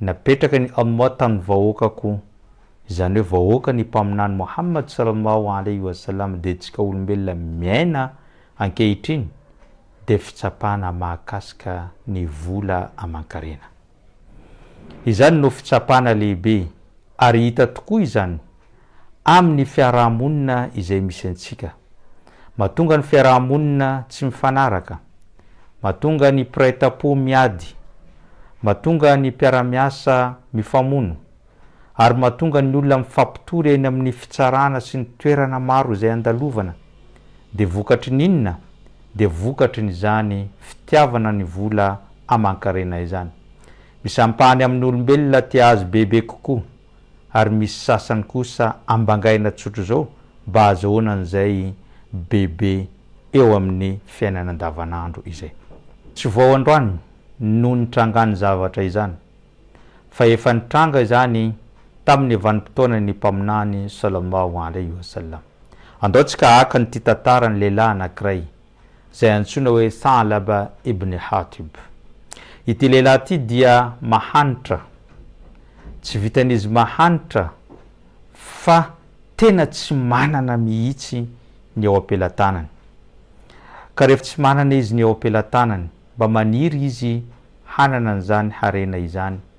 Napetraka ny Allah tamin'ny vahoakako, izany hoe vahoakan'ny Mpaminany Mohammad sallallahu alayhi wa sallam dia antsika olombelona miaina ankehitriny dia fitsapana mahakasika ny vola aman-karena. Izany no fitsapana lehibe ary hita tokoa izany amin'ny fiaraha-monina izay misy antsika. Mahatonga ny fiaraha-monina tsy mifanaraka. Mahatonga ny mpiray tampo miady. Mahatonga ny mpiara-miasa mifamono. Ary mahatonga ny olona mifampitory eny amin'ny fitsarana sy ny toerana maro izay andalovana. Dia vokatry ny inona? Dia vokatry ny izany fitiavana ny vola aman-karena izany. Misy ampahany amin'ny olombelona tia azy bebe kokoa. ary misy sasany kosa ambangaina tsotra izao mba hazahoana an'izay bebe eo amin'ny fiainana andavanandro izay. Tsy vao androany no nitrangan'ny zavatra izany fa efa nitranga izany tamin'ny vanim-potoanan'ny Mpaminany Sallallahu Alaihi Wasallam. Andao tsika haka an'ity tantaran'ny lehilahy anankiray izay antsoina hoe Tha'laba ibn Hatib. Ity lehilahy ity dia mahantra, tsy vitan'izy mahantra fa tena tsy manana mihitsy ny eo am-pelatanany. Ka rehefa tsy manana izy ny eo am-pelatanany, mba maniry izy hanana an'izany harena izany,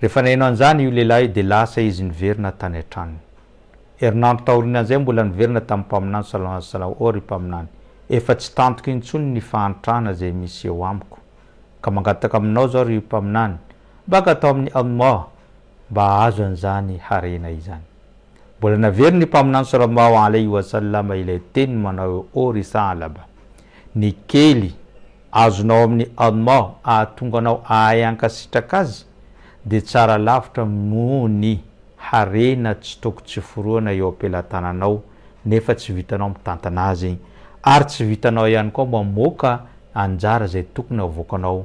Rehefa naheno an'izany io lehilahy io dia lasa izy niverina tany an-tranony. Herinandro taorianan'izay mbola niverina tamin'ny mpaminany Salao azy Salao Oh ry mpaminany, efa tsy tantiko intsony ny fahantrana izay misy eo amiko. Ka mangataka aminao izao ry mpaminany, maka atao amin'ny Almah mba hahazo an'izany harena izany. Mbola naverin'ny mpaminany Salao Mao Alaihi Wasallama ilay teny manao hoe Oh ry Tha'laba! Ny kely azonao amin'i Allah ahatonga anao ahay hankasitraka Azy dia tsara lavitra noho ny harena tsy toko tsy forohana eo am-pelatananao nefa tsy vitanao mitantana azy ary tsy vitanao ihany koa mamoaka anjara izay tokony havoakanao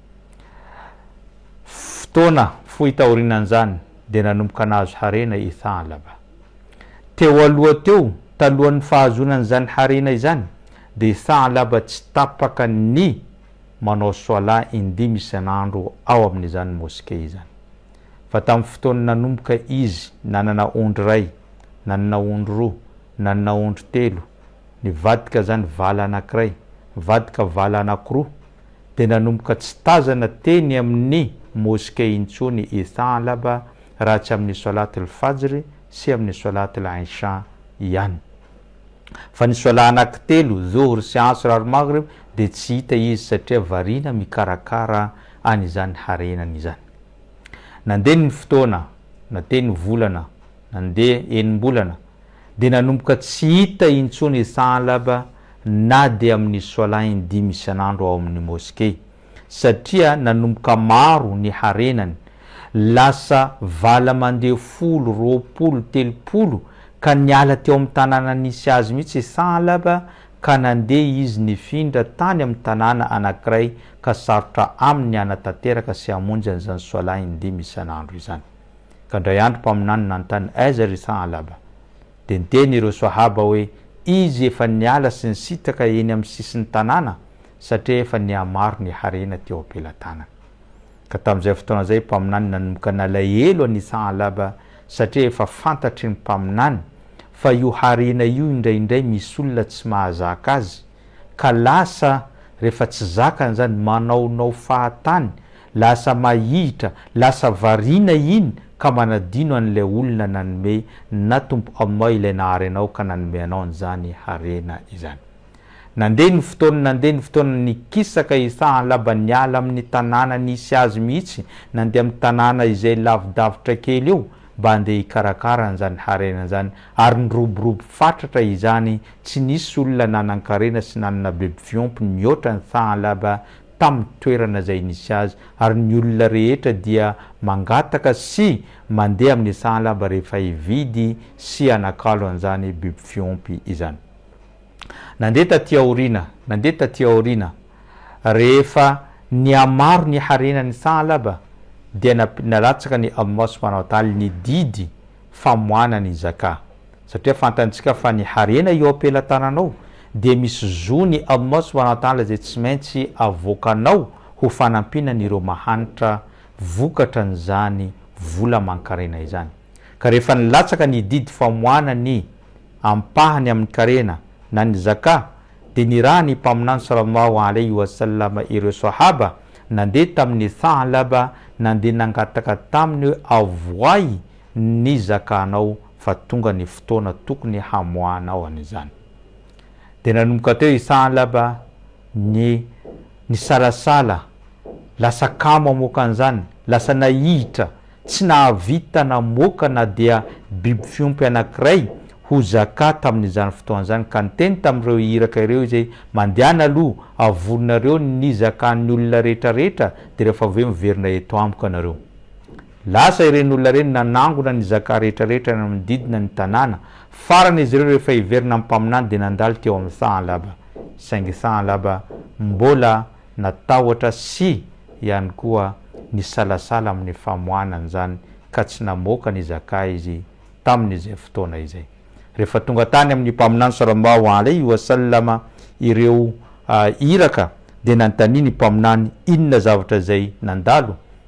Fotoana fohy taorianan'izany dia nanomboka nahazo harena i Tha'laba. Teo aloha teo, talohan'ny fahazoana an'izany harena izany, dia i Tha'laba tsy tapaka ny manao Swala indimy isan'andro ao amin'izany Mosquée izany. Fa tamin'ny fotoan'ny nanomboka izy nanana ondry iray, nanana ondry roa, nanana ondry telo, nivadika izany vala anankiray, nivadika vala anankiroa, dia nanomboka tsy tazana teny amin'ny Moske intsony i Tha'laba raha tsy amin'ny Swalat al-Fajr sy amin'ny Swalat al-Isha ihany. Fa ny Swalat anankitelo, Dhuhr sy Asr ary Maghrib, dia tsy hita izy satria variana mikarakara an'izany harenany izany. Nandeha ny fotoana, na teny volana, nandeha enim-bolana, dia nanomboka tsy hita intsony i Tha'lab na dia amin'ny Swalah in-dimy isan'andro ao amin'ny Moskey, satria nanomboka maro ny harenany, lasa vala mandeha folo, roapolo, telopolo, ka niala teo amin'ny tanàna nisy azy mihitsy i Tha'lab ka nandeha izy nifindra tany amin'ny tanàna anankiray ka sarotra aminy ny hanatanteraka sy hamonjy an'izany Swalah in-dimy isan'andro izany. Ka indray andro mpaminany nanontany Aiza ry Tha'alaba? Dia niteny ireo Swahaba hoe izy efa niala sy nisitraka eny amin'ny sisin'ny tanàna satria efa nihamaro ny harena teo am-pelatanany. Ka tamin'izay fotoana izay mpaminany nanomboka nalahelo an'i Tha'alaba satria efa fantatry ny mpaminany fa io harena io indraindray misy olona tsy mahazaka azy ka lasa rehefa tsy zakany izany manaonao fahatany Lasa mahihitra, lasa variana iny ka manadino an'ilay olona nanome na Tompo Allah ilay nahary anao ka nanome anao an'izany harena izany. Nandeha ny fotoana nandeha ny fotoana nikisaka i Tha'laba niala amin'ny tanàna nisy azy mihitsy nandeha amin'ny tanàna izay lavidavitra kely eo mba handeha hikarakara an'izany harena izany ary niroborobo fatratra izany tsy nisy olona nanan-karena sy nanana bebifiompy nihoatra an'i Tha'laba tamin'ny toerana izay nisy azy, ary ny olona rehetra dia mangataka sy mandeha amin'ny sahalaba rehefa hividy sy hanakalo an'izany biby fiompy izany. Nandeha taty aoriana, nandeha taty aoriana, rehefa nihamaro ny harenan'ny sahalaba, dia nalatsaka ny Almos Mpanao Taly ny didy famoahana ny Zaka. satria fantantsika fa ny harena eo am-pelatananao dia misy zony aminao sy manantala izay tsy maintsy avoakanao ho fanampiana an'ireo mahantra vokatra an'izany vola aman-karena izany. Ka rehefa nilatsaka ny didy famoahana ny ampahany amin'ny karena na ny Zaka dia nirahan'ny Mpaminany Sallallahu alaihi wa sallam ireo Sahaba nandeha tamin'i Tha'laba nandeha nangataka taminy hoe avoahy ny zakanao fa tonga ny fotoana tokony hamoahanao an'izany. Dia nanomboka teo i Thahlaba ny nisalasala, lasa kamo hamoaka an'izany, lasa nahihitra, tsy nahavita namoaka na dia biby fiompy anankiray ho zaka tamin'izany fotoana izany, ka niteny tamin'ireo iraka ireo izy hoe, Mandehana aloha, avorinareo ny zakan'ny olona rehetrarehetra, dia rehefa avy eo miverina eto amiko ianareo. Lasa ireny olona ireny nanangona ny zaka rehetra rehetra nanodidina ny tanàna. Farany izy ireo rehefa hiverina ny mpaminany dia nandalo teo amin'ny Thaanlaba. Saingy Thaanlaba mbola natahotra sy ihany koa nisalasala amin'ny famoahana an'izany ka tsy namoaka ny zaka izy tamin'izay fotoana izay. Rehefa tonga tany amin'ny mpaminany Sallallahu alaihi wa sallam ireo Iraka dia nanontaniany ny mpaminany inona zavatra izay nandalo?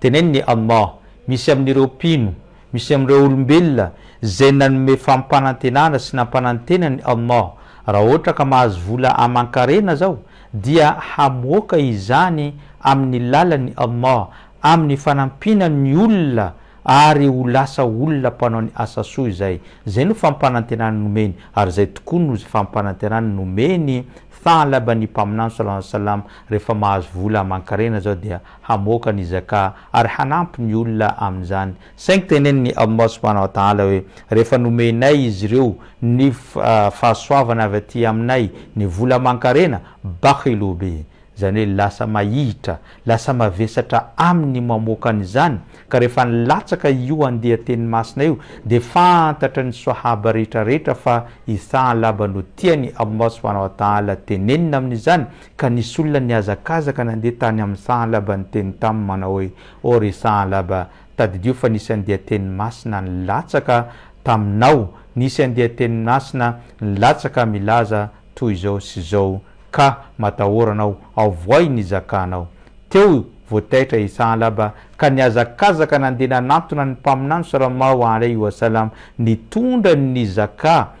Teneno ny Allah, misy amin'ireo mpino, misy amin'ireo olombelona izay nanome fampanantenana sy nampanantena an'i Allah, raha ohatra ka mahazo vola aman-karena zao dia hamoaka izany amin'ny lalan'i Allah amin'ny fanampiana ny olona ary ho lasa olona mpanao ny asa soa izay. Izay no fampanantenana nomeny ary izay tokoa no fampanantenana nomeny Tha'laba ny Mpaminany sallallahu alayhi wa sallam Rehefa mahazo vola aman-karena izao dia hamoaka ny Zaka ary hanampy ny olona amin'izany. Saingy tenenin'i Allah subhanahu wa ta'ala hoe, Rehefa nomenay izy ireo ny fahasoavana avy aty aminay ny vola aman-karena, bakhilu bih, izany hoe lasa mahihitra, lasa mavesatra aminy ny mamoaka an'izany, ka rehefa nilatsaka io andian-teny masina io dia fantatra ny Swahaba rehetra rehetra fa i Tha'laba no tian'i Allah subhanahu wa ta'ala tenenina amin'izany, Ka nisy olona nihazakazaka nandeha tany amin'ny sahanlaba niteny taminy manao hoe, O ry sahanlaba, tadidio fa nisy andian-teny masina nilatsaka taminao, nisy andian-teny masina nilatsaka milaza toy izao sy izao, ka matahorana aho, avohay ny zakanao. Teo vao taitra i sahanlaba ka nihazakazaka nandeha nanantona ny mpaminany Soramao Alaihi Wasallam nitondra ny zaka,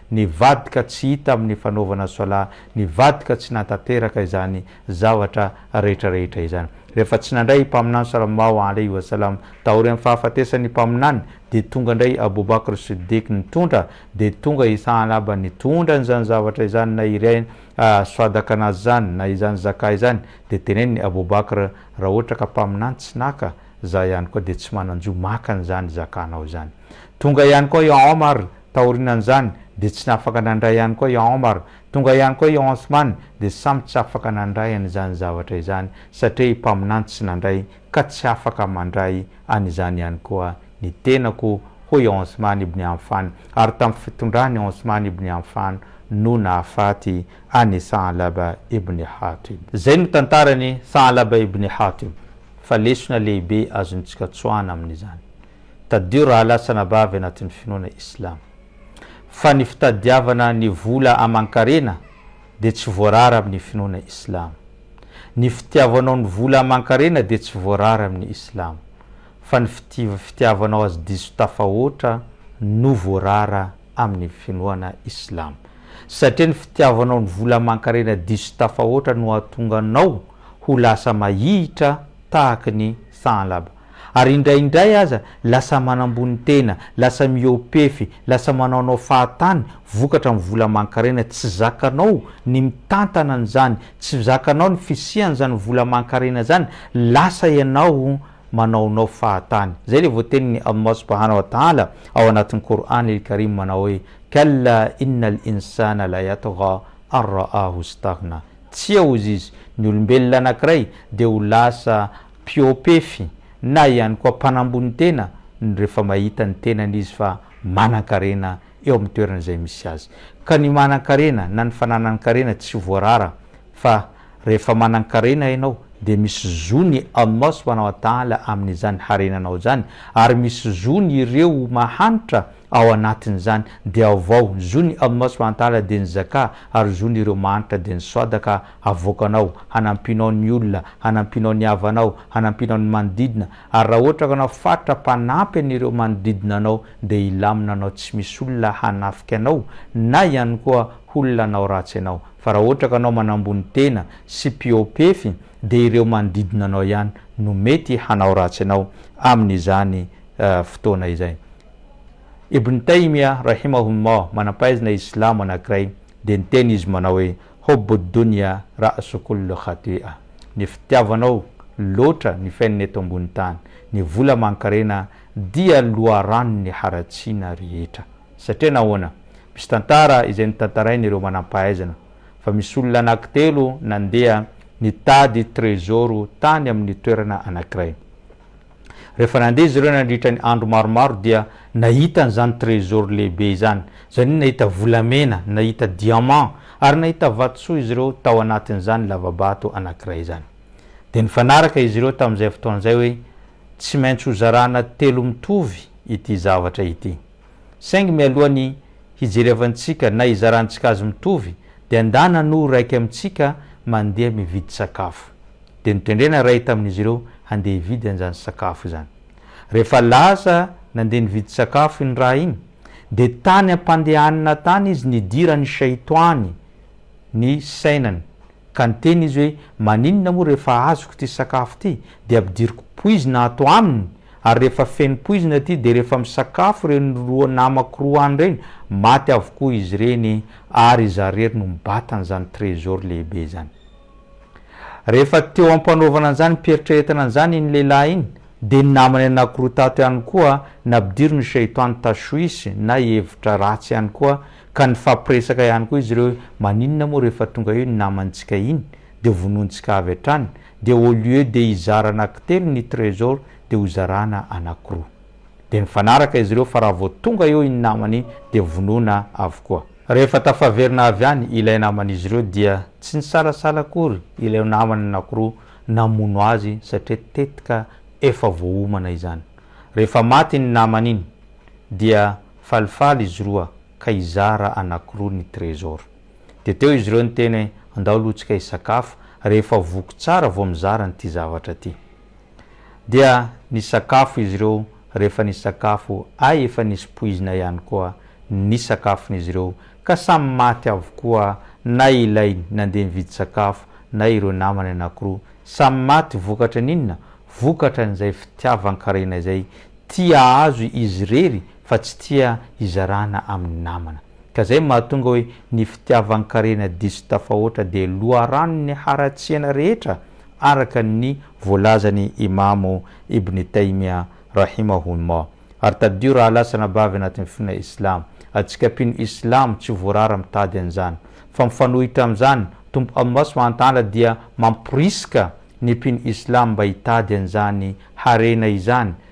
Nivadika tsy hita amin'ny fanaovana sola, nivadika tsy nahatanteraka izany zavatra rehetrarehetra izany. Rehefa tsy nandray i Mpaminany Salallahu alaihi wa sallam taorian'ny fahafatesan'ny Mpaminany dia tonga indray Abu Bakr As-Siddiq nitondra, dia tonga i Tha'laba nitondra an'izany zavatra izany na iray swadaqanaz izany na izany zakah izany, dia tenenin'i Abu Bakr, Raha ohatra ka Mpaminany tsy naka, za ihany koa dia tsy manan-jo maka an'izany zakah-nao izany. Tonga ihany koa i Omar Taorinan'izany dia tsy nafaka nandray ihany koa i Omar, tonga ihany koa i Othman dia samy tsy afaka nandray an'izany zavatra izany satria i Mpaminany tsy nandray ka tsy afaka mandray an'izany ihany koa ny tenako hoy i Othman ibn Affan ary tamin'ny fitondran' i Othman ibn Affan no nahafaty an' i Tha'laba ibn Hatib. Izay no tantaran' i Tha'laba ibn Hatib fa lesona lehibe azontsika tsoahana amin'izany. Tadidio rahalahy sy anabavy anatin'ny finoana Islam, fa ny fitadiavana ny vola aman-karena dia tsy voarara amin'ny finoana Islam. Ny fitiavanao ny vola aman-karena dia tsy voarara amin'ny Islam, fa ny fitiavanao azy diso tafahoatra no voarara amin'ny finoana Islam. Satria ny fitiavanao ny vola aman-karena diso tafahoatra no hahatonga anao ho lasa mahihitra tahaky ny Tha'laba. Ary indraindray aza lasa manambony tena, lasa mihoa-pefy, lasa manaonao fahatany vokatra amin'ny vola aman-karena, tsy zakanao ny mitantana an'izany, tsy zakanao ny fisian'izany vola aman-karena izany, lasa ianao manaonao fahatany. Izay ilay voatenin'i Allah subhana wa ta'ala ao anatin'ny Qur'an il-Karim manao hoe, Kalla innal insana la yatgha an ra'ahu staghna, Tsia ozizy, ny olombelona anankiray dia ho lasa Mpihoa-pefy na ihany koa mpanambony tena no rehefa mahita ny tenany izy fa manan-karena eo amin'ny toerana izay misy azy. Ka ny manan-karena na ny fananan-karena tsy voarara fa rehefa manan-karena ianao dia misy zo ny Allah subhanahu wa ta'ala amin'izany harenanao izany ary misy zo ny ireo mahantra Ao anatin'izany, dia aovao, zo ny Allah swt dia ny Zakà, ary zo ny ireo mahantra dia ny Swadaka, havoakanao, hanampianao ny olona, hanampianao ny havanao, hanampianao ny manodidina, ary raha ohatra ka anao faritra mpanampy an'ireo manodidina anao dia hilamina anao tsy misy olona hanafika anao na ihany koa holona hanao ratsy anao, fa raha ohatra ka anao manambony tena sy mpihoapefy dia ireo manodidina anao ihany no mety hanao ratsy anao amin'izany fotoana izay. Ibn Taymiyah rahimahullah, manam-pahaizana islamo anankiray, dia niteny izy manao hoe, Hubbud dunya ra'su kullu khati'ah, Ny fitiavanao loatra ny fiainana eto ambony tany, ny vola aman-karena dia loharanon'ny haratsiana rehetra. Satria nahoana? Misy tantara izay notantarain'ireo manam-pahaizana, fa misy olona anankitelo nandeha nitady trezoro tany amin'ny toerana anankiray. Rehefa nandeha izy ireo nandritra ny andro maromaro dia nahita an'izany trésor lehibe izany. Izany hoe nahita volamena, nahita diamant ary nahita vatosoa izy ireo tao anatin'izany lava-bato anankiray izany. Dia nifanaraka izy ireo tamin'izay fotoana izay hoe tsy maintsy hozarana telo mitovy ity zavatra ity. Saingy mialohan'ny hijerevantsika na hizarantsika azy mitovy dia ndana no iraika amintsika mandeha mividy sakafo. Dia notendrena iray tamin'izy ireo handeha hividy an'izany sakafo izany. Rehefa lasa nandeha nividy sakafo iny ra iny, dia tany am-pandehanana tany izy nidiran'ny Shaitoany ny sainany, ka niteny izy hoe, Maninona moa rehefa azoko ity sakafo ity, dia ampidiriko poizina ato aminy, ary rehefa feno poizina ity, dia rehefa misakafo ireny roa namako roa any ireny, maty avokoa izy ireny, ary izaho irery no mibata an'izany trésor lehibe izany. Rehefa teo am-panaovana an'izany mpieritrereta an'izany iny lehilahy iny, dia ny namany anankiroa tato ihany koa nampidirin'i Shaytan tashwish na hevitra ratsy ihany koa, ka nifampiresaka ihany koa izy ireo hoe, Maninona moa rehefa tonga eo iny namantsika iny dia vonointsika avy hatrany, dia au lieu dia hizara anankitelo ny trésor dia hozarana anankiroa. Dia nifanaraka izy ireo fa raha vao tonga eo iny namany iny dia vonoina avokoa. Rehefa tafaverina avy any ilay naman'izy ireo dia tsy nisalasala akory ilay namany anankiroa namono azy satria tetika efa voaomana izany. Rehefa maty iny namany iny dia falifaly izy roa ka hizara anankiroa ny trésor. Dia teo izy ireo niteny hoe andao aloha tsika hisakafo rehefa voky tsara vao mizara an'ity zavatra ity. dia nisakafo izy ireo rehefa nisakafo ay efa nisy poizina ihany koa ny sakafon'izy ireo ka samy maty avokoa na ilay nandeha nividy sakafo na ireo namany anakiroa samy maty vokatran'inona vokatran'izay fitiavan-karena izay tia azo izy irery fa tsy tia hizarana amin'ny namana, ka izay mahatonga hoe ny fitiavan-karena diso tafahoatra dia loharanon'ny haratsiana rehetra araka ny voalazan'i Imamo Ibn Taymiyya rahimahullah. Ary tadidio raha lahy sy anabavy anatin'ny finoana Islamo, antsika mpino Islamo tsy voarara mitady an'izany, fa mifanohitra amin'izany, Tompo Allah subhanahu wa ta'ala dia mamporisika ny mpino Islamo mba hitady an'izany harena izany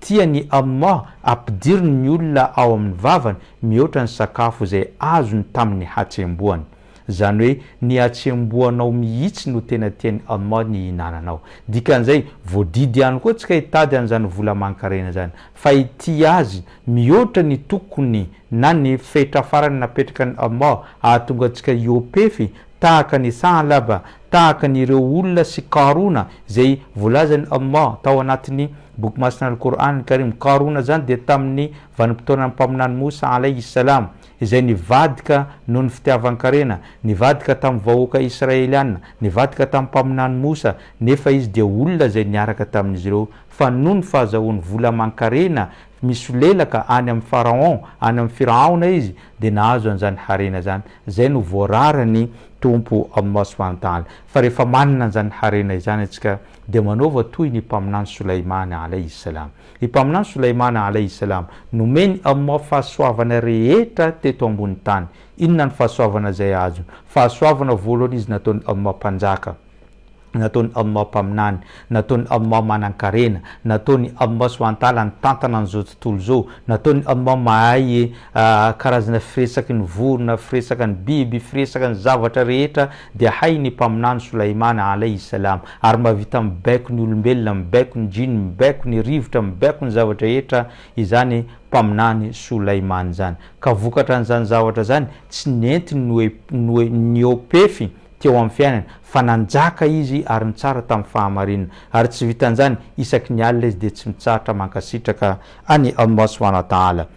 Tian'i Allah ampidiriny ny olona ao amin'ny vavany mihoatra ny sakafo izay azony tamin'ny hatsembohany. Izany hoe ny hatsembohanao mihitsy no tena tian'i Allah ny hihinananao. Dikan'izay, voadidy ihany koa tsy ka hitady an'izany vola aman-karena izany, fa hitia azy mihoatra ny tokony na ny fetra farany napetrakan'i Allah hahatonga antsika hiopefy tahaka an'i Tha'laba, tahaka an'ireo olona sy Qaruna izay voalazan'i Allah tao anatin'ny Boky masina Al-Qur'an Al-Karim, Qaruna izany dia tamin'ny vanim-potoanan'ny Mpaminany Moussa Alayhi Salam, izay nivadika noho ny fitiavan-karena, nivadika tamin'ny vahoaka Israeliana, nivadika tamin'ny Mpaminany Moussa, nefa izy dia olona izay niaraka tamin'izy ireo, fa noho ny fahazahoany vola aman-karena misolelaka any amin'ny Pharaon, any amin'ny Firahaona izy, dia nahazo an'izany harena izany, izay no voararan'ny Tompo Allah Subhanahu wa Ta'ala. Fa rehefa manana an'izany harena izany iantsika, Dia manaova toy ny Mpaminany Solaimana alaihi salam. I Mpaminany Solaimana alaihi salam nomen'i Allah fahasoavana rehetra teto ambony tany. Inona ny fahasoavana izay azony? Fahasoavana voalohany izy nataon'i Allah Mpanjaka, nataon'i Allah Mpaminany, nataon'i Allah Manankarena, nataon'i Allah subhanahu wa ta'ala nitantana an'izao tontolo izao, nataon'i Allah mahay karazana firesaky ny vorona, firesaka ny biby, firesaka ny zavatra rehetra Dia hay ny mpaminany Solaimana alaihi salam, ary mba vita mibaiko ny olombelona, mibaiko ny jinn, mibaiko ny rivotra, mibaiko ny zavatra rehetra izany mpaminany Solaimana izany. Ka vokatra an'izany zavatra izany, tsy nentiny noe, noe, niopefy teo amin'ny fiainany, fa nanjaka izy ary nitsara tamin'ny fahamarinana. Ary tsy vitan'izany, isaky ny alina izy dia tsy mitsahatra mankasitraka an'i Allah subhanahu wa ta'ala.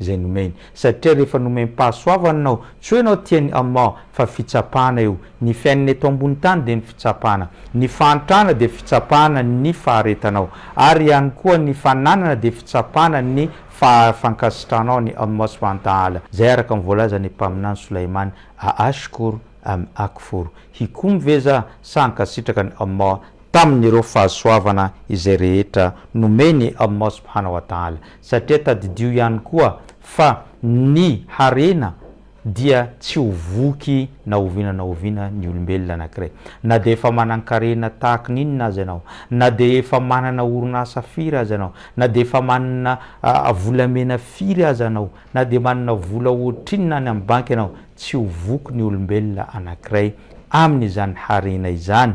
izay nomeny. Satria rehefa nomem-pahasoavana ianao, tsy hoe ianao tian'i Allah, fa fitsapana io. Ny fiainana eto ambony tany dia ny fitsapana. Ny fahantrana dia fitsapana ny faharetanao. Ary ihany koa ny fananana dia fitsapana ny fahafankasitrahanao an'i Allah subhanahu wa ta'ala. Izay araka ny voalazan'ny Mpaminany Sulaiman, A ashkur am akfur, Hikomy ve za sa hankasitraka an'i Allah? tamin'ireo fahasoavana izay rehetra nomeny Allah subhana wa ta'ala, satria tadidio ihany koa fa ny harena dia tsy ho voky na oviana na oviana ny olombelona anankiray, na dia efa manan-karena tahaka ny inona aza ianao, na dia efa manana orinasa firy aza ianao, na dia efa manana volamena firy aza ianao, na dia manana vola ohatrinona any amin'ny banky ianao, tsy ho voky ny olombelona anankiray amin'izany harena izany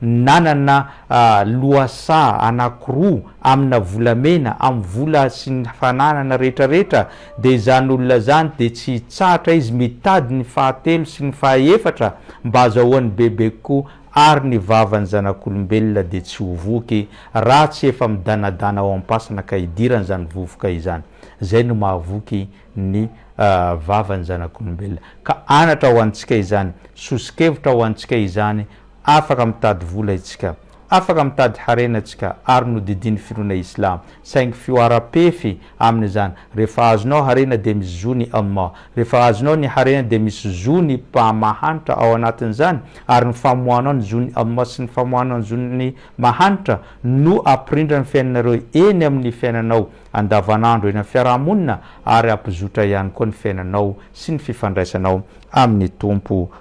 Nanana lohasaha anakiroa amina volamena amin'ny vola sy ny fananana rehetra rehetra dia izany olona izany dia tsy hitsahatra izy mitady ny fahatelo sy ny fahaefatra mba azahoany bebe kokoa ary ny vavan'ny zanak'olombelona dia tsy ho voky raha tsy efa midanadana ao am-pasana ka hidirany izany vovoka izany izay no mahavoky ny vavan'ny zanak'olombelona ka anatra ho antsika izany soso-kevitra ho antsika izany Afaka mitady vola itsika, afaka mitady harena itsika ary nodidian'ny finoana islam, saingy fihoaram-pefy amin'izany, rehefa azonao harena dia misy zo ny Allah, rehefa azonao ny harena dia misy zo ny Mpamahanitra ao anatin'izany, ary ny famoahanao ny zon'i Allah sy ny famoahanao ny zon'ny Mahanitra no hampirindra ny fiainanareo eny amin'ny fiainanao andavanandro eny amin'ny fiaraha-monina ary hampizotra ihany koa ny fiainanao sy ny fifandraisanao amin'ny Tompo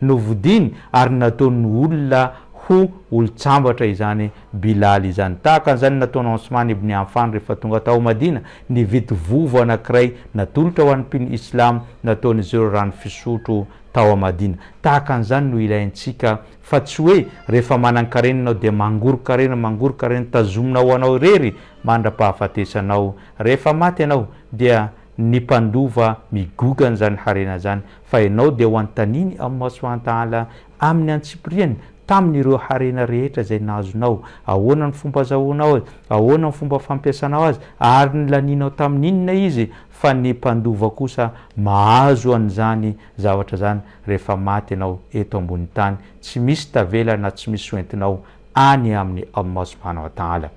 Novidiny ary nataony olona ho olon-tsambatra izany Bilal izany. Tahaka an'izany nataon'i Osman ibn Affan rehefa tonga tao Madina, nividy vovo anankiray natolotra ho an'ny mpino Islam nataon'izy ireo rano fisotro tao Madina. Tahaka an'izany no ilaintsika fa tsy hoe rehefa manan-karena ianao dia mangoron-karena, mangoron-karena tazomina ho anao irery mandra-pahafatesanao. Rehefa maty ianao dia ny mpandova migogana izany harena izany. Fa ianao dia ho antaniny amin'ny masoiantaala amin'ny antsipiriany tamin'ireo harena rehetra izay nahazonao, ahoana ny fomba azahoanao azy, ahoana ny fomba fampiasanao azy, ary ny lanianao tamin'inona izy, fa ny mpandova kosa mahazo an'izany zavatra izany rehefa maty ianao eto ambonin'ny tany, tsy misy tavela na tsy misy hoentinao any aminy amin'ny masoiantaala.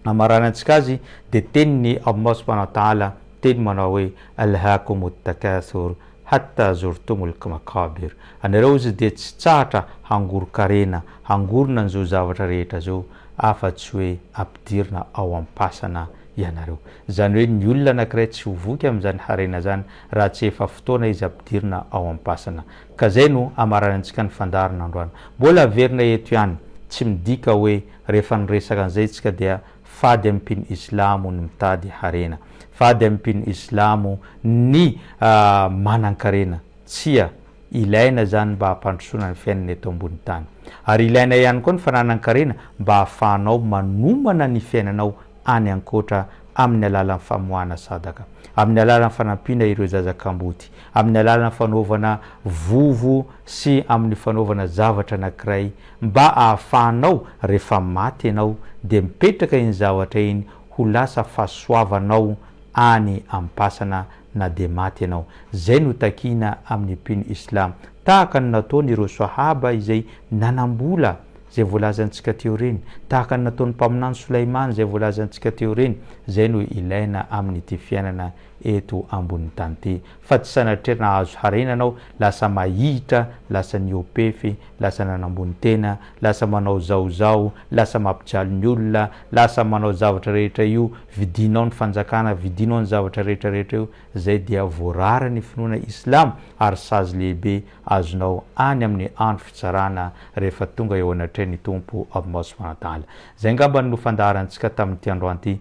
hamaranantsika azy dia tenin'i Allah subhanahu wa ta'ala teny manao hoe Alhaakumut takathur hatta zurtumul maqabir anareo hozy dia tsy tsahatra hangoron-karena hangorona an'izao zavatra rehetra izao afa tsy hoe ampidirina ao am-pasana ianareo izany hoe ny olona anankiray tsy ho voky amin'izany harena izany raha tsy efa fotoana izy ampidirina ao am-pasana ka izay no hamaranantsika ny fandaharana androany mbola averina eto ihany tsy midika hoe Rehefa niresaka an'izay tsika dia fady amin'ny mpino islamo ny mitady harena. Fady amin'ny mpino islamo ny manankarena. Tsia, ilaina izany mba hampandrosoana ny fiainana eto ambony tany. Ary ilaina ihany koa ny fananan-karena mba hahafahanao manomana ny fiainanao any ankoatra amin'ny alalan'ny famoahana sadaka. Amin'ny alalan'ny fanampiana ireo zaza kamboty. amin'ny alalan'ny fanaovana vovo sy amin'ny fanaovana zavatra anankiray mba ahafahanao rehefa maty ianao dia mipetraka iny zavatra iny ho lasa fahasoavanao any am-pasana na dia maty ianao. Izay no takiana amin'ny mpino islam. Tahaka ny nataon'ireo Swahaba izay nanam-bola izay voalazantsika teo ireny, tahaka ny nataon'ny Mpaminany Solaimana izay voalazantsika teo ireny, izay no ilaina amin'ity fiainana eto ambonin'ny tany ty fa tsy sanatria nahazo harena anao lasa mahihitra lasa niopefy lasa nanambony tena lasa manao zao zao lasa mapijaly ny olona lasa manao zavatra rehetra io vidinao ny fanjakana vidinao ny zavatra rehetra rehetra io zay dia voarara ny finoana islam ary sazy lehibe azonao any amin'ny andro fitsarana rehefa tonga eo anatrehan'ny Tompo Avy Maso Manantala zay ngambany no fandaharantsika tamin'ity androany ity